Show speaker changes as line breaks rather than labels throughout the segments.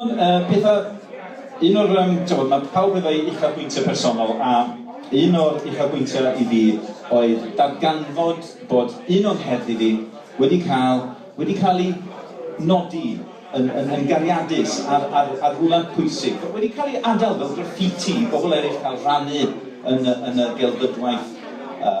Ond yy pethau... Un o'r yym t'mod ma' pawb efo'i uchafbwyntiau personol a un o'r uchafbwyntiau i fi oedd darganfod bod un o'n heddlu fi wedi cael wedi cael ei nodi yn yn yn gariadus ar ar ar rywle pwysig, wedi cael ei adael fel graffiti i bobl eraill cael rhannu yn y yn y gelfyddwaith yy.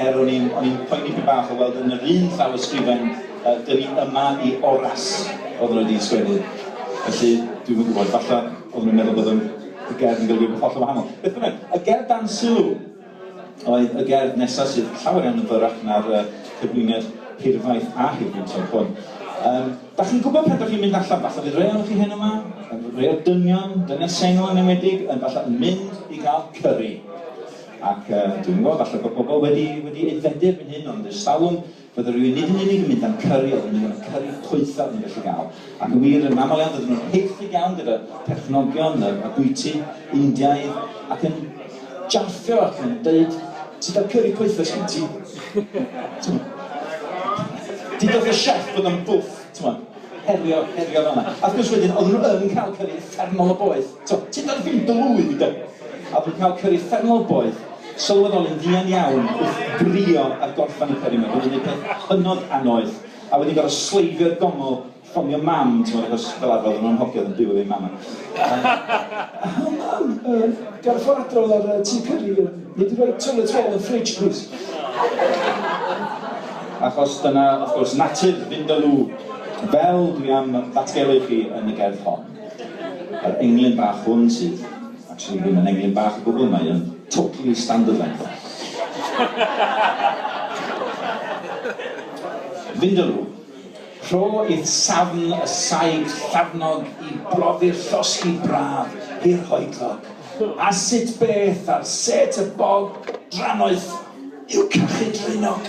Er o'n i'n o'n i'n poeni pyn bach o weld yn yr un llawysgrifen yy dyn ni yma i Oras oedden nhw wedi sgwennu. Felly dwi'm yn gwybod, falle oedden nhw'n meddwl bod yn y gerdd yn golygu rhywbeth hollol wahanol. Beth bynnag, y gerdd dan sylw oedd y gerdd nesaf sydd llawer iawn yn fyrrach na'r yy cyflwyniad hirfaith a hirgynta'r hwn. Yym, da chi'n gwybod pan da chi'n mynd allan, falle bydd rei ohonoch chi heno yma, rei o'r dynion, dynion sengl yn enwedig, yn falle yn mynd i gael cyri. Ac dwi'm yn gwybod, falle bod pobl wedi wedi aeddfedu erbyn hyn, ond ers talwm, fydde rhywun nid yn unig yn mynd am cyri, ond yn mynd am y cyri poethaf ni'n gallu gael. Ac yn wir, yn aml iawn, dydyn nhw'n haeddu iawn gyda perchnogion y y bwyty Indiaidd, ac yn jarthio ac yn deud, Ti da cyri poethaf sgen ti? T'mod? Dudodd y chef bod o'n bwff, t'mod, herio, herio fel 'na. A wrth gwrs wedyn, oedden nhw yn cael cyri uffernol o boeth. Tybed tybed wrth fynd o fwyd i gyf. A dwi'n cael cyri ffermol boeth sylweddoli'n fuan iawn wrth frio ar gorffan y cyri 'ma. Dwi'n neud peth hynod annoeth a wedyn gorfod sleifio'r gongol, ffonio mam t'mod achos fel arfer oedden nhw'n hogiad yn byw efo eu mam a O mam, yy gael y ffoadl a'r yy tŷ cyri yy nei di roi toilet roll yn fridge plîs? Achos dyna wrth gwrs natur Vindaloo fel dwi am ddatgelu i chi yn y gerdd hon. Yr englyn bach hwn sydd actually ddim yn englyn bach o gwbl, mae yn totally standard length. Vindaloo. Rho i'r safn y saig llafnog i brofi'r llosgi braf hirhoedlog. A sut beth ar set y bog drannoeth yw cachu draenog?